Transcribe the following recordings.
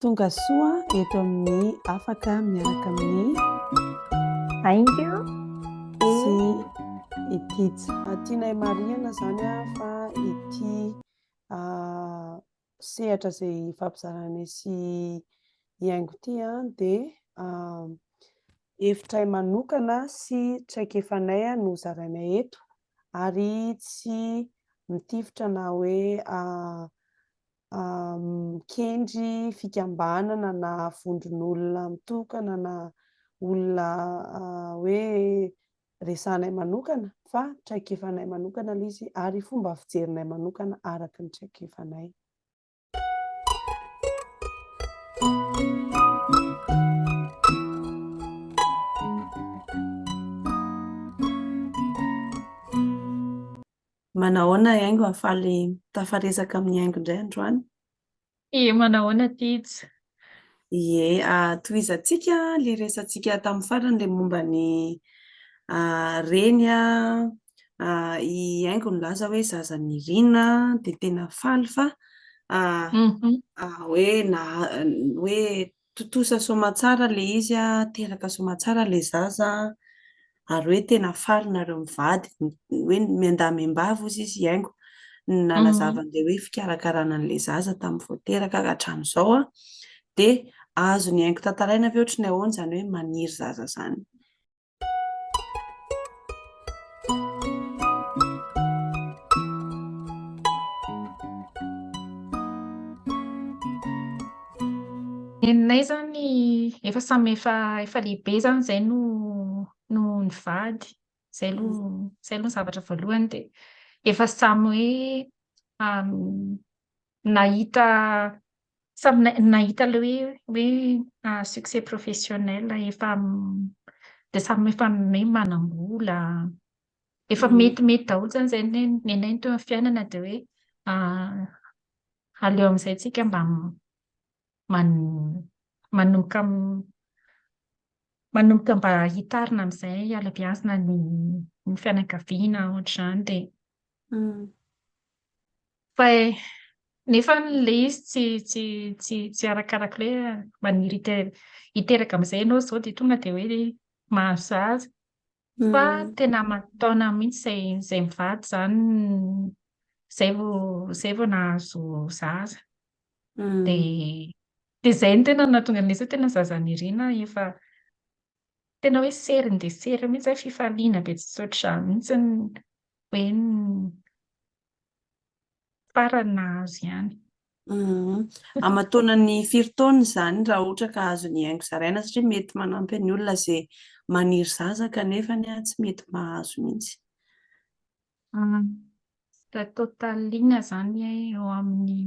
Tonga soa eto amin'ny Afaka miaraka amin'ny Ainga sy i Tija. Tianay marihana izany fa ity sehatra izay hifampizaranay sy i Aingo ity dia hevitray manokana sy traikefanay no zarainay eto ary tsy mitifitra na hoe mikendry fikambanana na vondron'olona mitokana na olona hoe resahanay manokana fa traikefanay manokana ilay izy ary fomba fijerinay manokana araka ny traikefanay. Manahoana Haingo hahafaly tafaresaka amin'ny Haingo indray androany? Ie manahoana Tijo? Ie, tohizantsika ilay resatsika tamin'ny farany ilay momba ny reny i Haingo nilaza hoe zaza Nirina dia tena faly fa hoe na hoe Tontosa soamatsara le izy a, teraka soamatsara le zaza a, ary hoe tena faly nareo mivady, hoe miandahy miambavy ozy izy hiaingo ny nalazavany le hoe fikarakarana anle zaza tamin'ny vao teraka ka hatramin'izao a, dia azony hiaingo tantaraina ve ohatry ny ahoana izany hoe maniry zaza izany. Nenay zany efa samy efa efa lehibe zany zay no no nivady zay lo zay lo ny zavatra voalohany de efa samy hoe Nahita samy nahita le hoe hoe succès professionnel efa de samy efa hoe manam-bola efa metimety daholo zany zay ny anay ny teo amin'ny fiainana de hoe aleo amin'izay tsika mba manomboka manomboka mba hitarina amin'izay hiala-biazina ny fianakaviana ohatr'izany de Fa eh, nefa le izy tsy tsy tsy tsy arakaraka le maniry hiteraka amizay ianao zao de tonga de hoe mahazo zaza fa mm. tena aman-taona mihitsy zay zay mivady zany zay vo zay vo nahazo zaza mm. de de zay ny tena natonga an'le tena zaza nirina efa tena hoe seriny de seriny mihitsy zay fifaliana be tsy tsotr'izany mihitsy ny hoe Farany nahazo ihany. Amataonany firy taona izany raha ohatra ka azony hihaingo zaraina satria mety manampy any olona ze maniry zaza kanefa ny tsy mety mahazo mintsy. Raha total ina zany eo aminy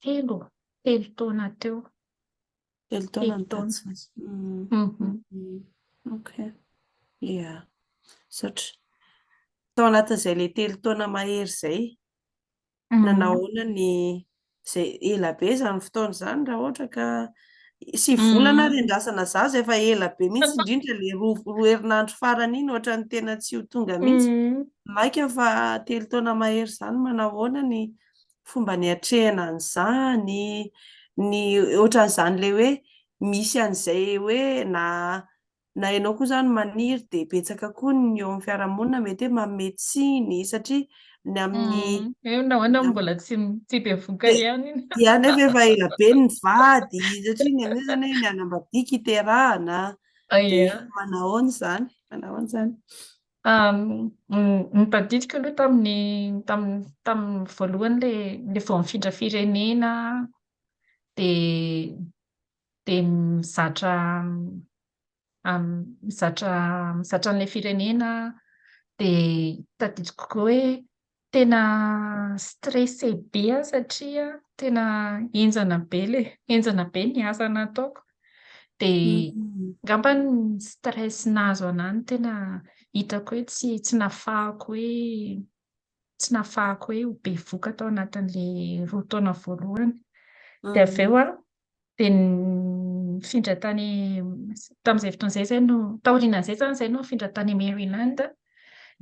telo telo taona teo Telo taona ny tatsy. Mhm. Ok. Ia. Misaotra. Tao anatin'izay le telo taona mahery zay, mhm. nanahoana ny zay ela be zany fotoana zany raha ohatra ka sy volana ary andrasana zaza efa ela be mihitsy indrindra le roa roa herinandro farany iny ohatra ny tena tsy ho tonga mihitsy maika fa telo taona mahery zany manahoana ny fomba niatrehana an'izany, ny ohatran'izany ilay hoe misy an'izay hoe na na ianao koa izany maniry dia betsaka koa ny eo amin'ny fiarahamonina mety hoe manome tsiny satria ny amin'ny hoe nahoana no mbola tsy tsy be vokany ihany iny dia nefa efa ela be ny vady satria ny an'io izany hoe ny anambadiaka iterahana dia manahoana izany manahoana izany Ny tadidiko aloha tamin'ny tamin'ny voalohany ilay ilay vao mifindra firenena dia dia mizatra mizatra mizatra an'ilay firenena dia tadidiko koa hoe Tena stressé be aho satria tena henjana be le henjana be ny asa nataoko dia angamba ny stress nahazo anah no tena hitako hoe tsy tsy nafahako hoe tsy nafahako hoe ho bevoka tao anatin'ilay roa taona voalohany dia avy eo aho dia nifindra tany tamin'izay fotoana izay izay no taorianan'izay izany izay no nifindra tany Maryland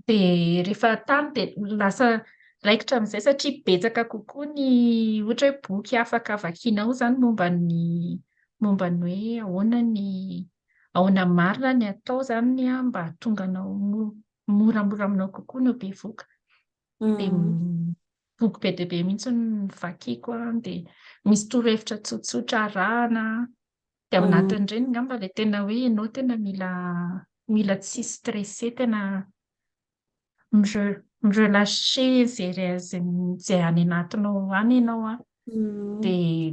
dia rehefa tany dia lasa raikitra amin'izay satria betsaka kokoa ny ohatra hoe boky afaka vakianao izany momba ny momba ny hoe ahoana ny ahoana marina ny atao izany an mba hahatonga anao moramora aminao kokoa ny ho bevoka dia boky be dia be mihitsy novakiako an, dia misy torohevitra tsotsotra arahana, dia ao mm. anatin'ireny ngamba ilay tena hoe ianao tena mila mila tsy stressé tena mirelaxé zay zay any anatinao any ianao an, mm. dia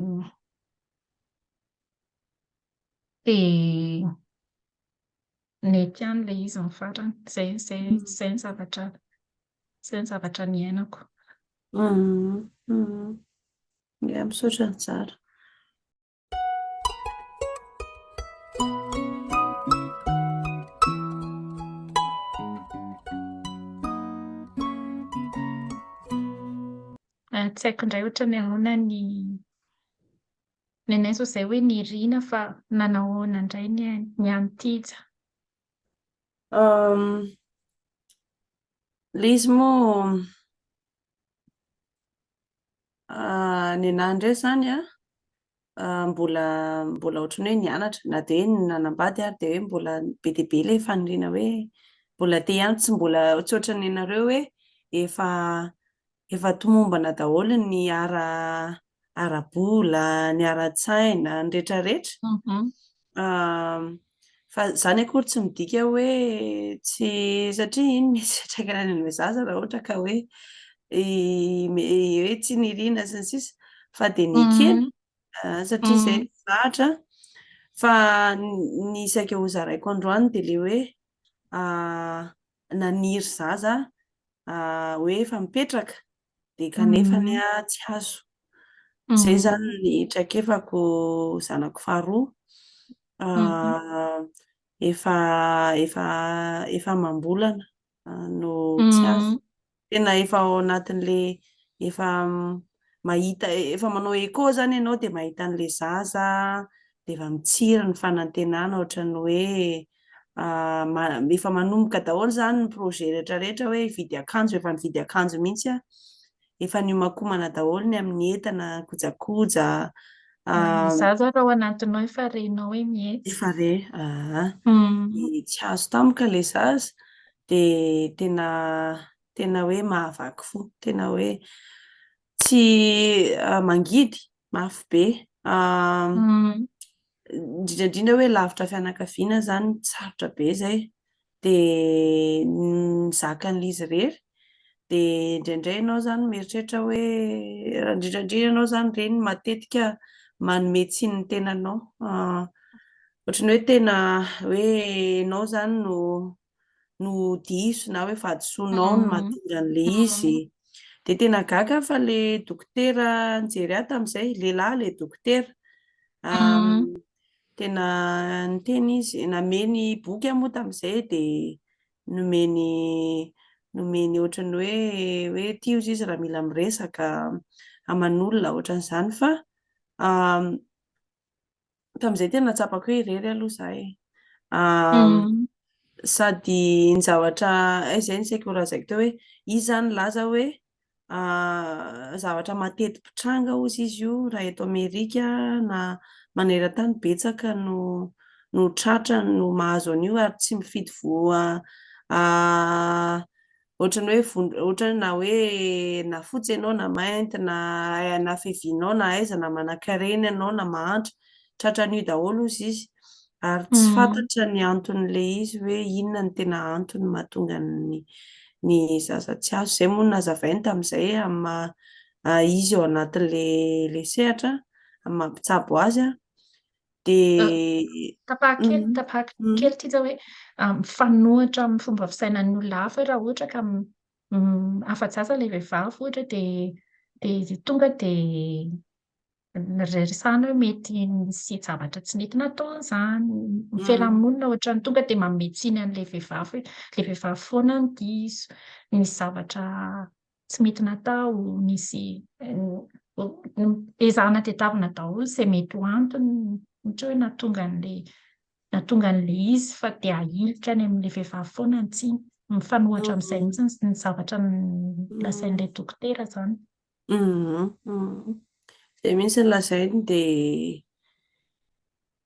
dia Nety ihany ilay izy ny farany. Izay izay izay ny zavatra izay ny zavatra niainako. Ya, misaotra nizara. Tsy haiko indray ohatran'ny ahoana ny Nenaiso izay hoe nirina fa nanahoana indray ny ainy, ny an'i Tija. Uhm, ilay izy moa ah, nenahy indray izany an, ah, mbola mbola ohatran'ny hoe nianatra, na dia hoe nanambady ary dia hoe mbola be dia be ilay faniriana hoe mbola te ihany, tsy mbola tsy ohatran'ny anareo hoe efa efa tomombana daholo ny ara ara-bola, ny ara-tsaina, ny rehetra rehetra. Fa izany akory tsy midika hoe tsy satria iny misy fiantraikany any amin'ilay zaza raha ohatra ka hoe hoe tsy niriana sy ny sisa fa dia ny kely satria izay zahatra fa ny saika hozaraiko androany dia le hoe naniry zaza hoe efa mipetraka dia kanefa ny tsy hazo. Izay izany ny traikefako zanako faharoa. Efa efa efa amam-bolana no tsy azo. Tena efa ao anatin'le efa mahita efa manao écho zany ianao dia mahita an'le zaza dia efa mitsiry ny fanantenana ohatran'ny hoe efa manomboka daholo zany ny projet rehetra rehetra hoe hividy akanjo efa nividy akanjo mihitsy a efa niomakomana daholo ny amin'ny entana kojakoja za zao raha ao anatinao efa renao hoe mihetsy efa re aa tsy azo tampoka le zaza dia tena tena hoe mahavaky fo, tena hoe tsy mangidy mafy be, indrindra indrindra hoe lavitra fianakaviana izany sarotra be izay, dia ny zakan'ilay izy irery dia indraindray ianao izany mieritreritra hoe indrindra indrindra ianao izany reny matetika manome tsiny ny tenanao, ohatran'ny hoe tena hoe ianao izany no no diso na hoe fahadisoanao no mahatonga an'le izy. Dia tena gaga aho fa le dokotera nijery ahy tamin'izay, lehilahy le dokotera. Tena niteny izy, nameny boky aho moa tamin'izay dia nomeny nomeny ohatran'ny hoe hoe ity hozy izy raha mila miresaka aman'olona ohatran'izany fa tamin'izay tena natsapako hoe irery aloha za e. Sady ny zavatra eh, zay ny saiko horazaiko teo hoe izy zany laza hoe zavatra matety pitranga ozy izy io raha eto Amerika na maneran-tany betsaka no no tratra no mahazo an'io ary tsy mifidy voa ohatran'ny hoe vond- ohatran'ny na hoe na fotsy ianao na mainty na ai- na fevinao na aiza na manan-karena ianao na mahantra tratran'io daholo ozy izy ary tsy Mhm. fantatra ny anton'le izy hoe inona ny tena antony mahatonga ny ny zaza tsy azo zay moa no nazavainy tamin'izay amin'ny maha- ah, izy ao anatin'le le sehatra amin'ny maha mpitsabo azy a dia tapahako kely mm. tapahako mm. kely ity zao hoe ah, mifanohitra amin'ny fomba fisainan'ny olona hafa raha ohatra ka mm, afa-jaza ilay vehivavy ohatra dia dia tonga dia rerisana hoe mety misy zavatra tsy mety nataony izany mifelamonina ohatrany tonga dia mametsiny an'ilay vehivavy hoe ilay vehivavy foana ny diso ny zavatra tsy mety natao, nisy ezahana tadiavina daholo izay mety ho antony ohatra hoe nahatonga an'ilay nahatonga an'ilay izy fa dia ahilika any amin'ilay vehivavy foana ny tsiny. Mifanohatra amin'izay mihitsy ny zavatra lazain'ilay dokotera izany. Izay mihitsy ny lazainy dia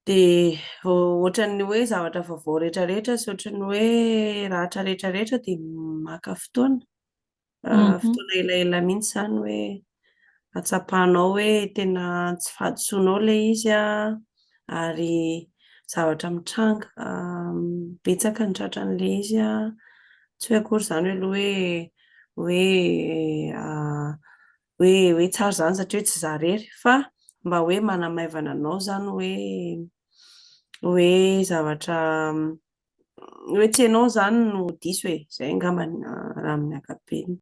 dia ohatran'ny hoe zavatra vaovao rehetra rehetra sy ohatran'ny hoe ratra rehetra rehetra dia maka fotoana. fotoana elaela mihitsy izany hoe hatsapanao hoe tena tsy fahadisoanao ilay izy ary zavatra mitranga betsaka ny tratran'ilay izy tsy hoe akory izany aloha hoe hoe hoe tsara izany satria tsy izaho irery fa mba hoe manamaivana anao izany hoe hoe zavatra tsy ianao izany no diso e, izay angamba raha amin'ny ankapobeny.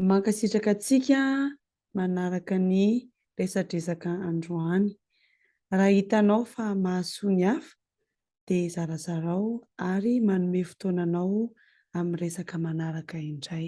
Mankasitraka antsika manaraka ny resadresaka androany. Raha hitanao fa mahasoa ny hafa dia zarazarao ary manome fotoana anao amin'ny resaka manaraka indray.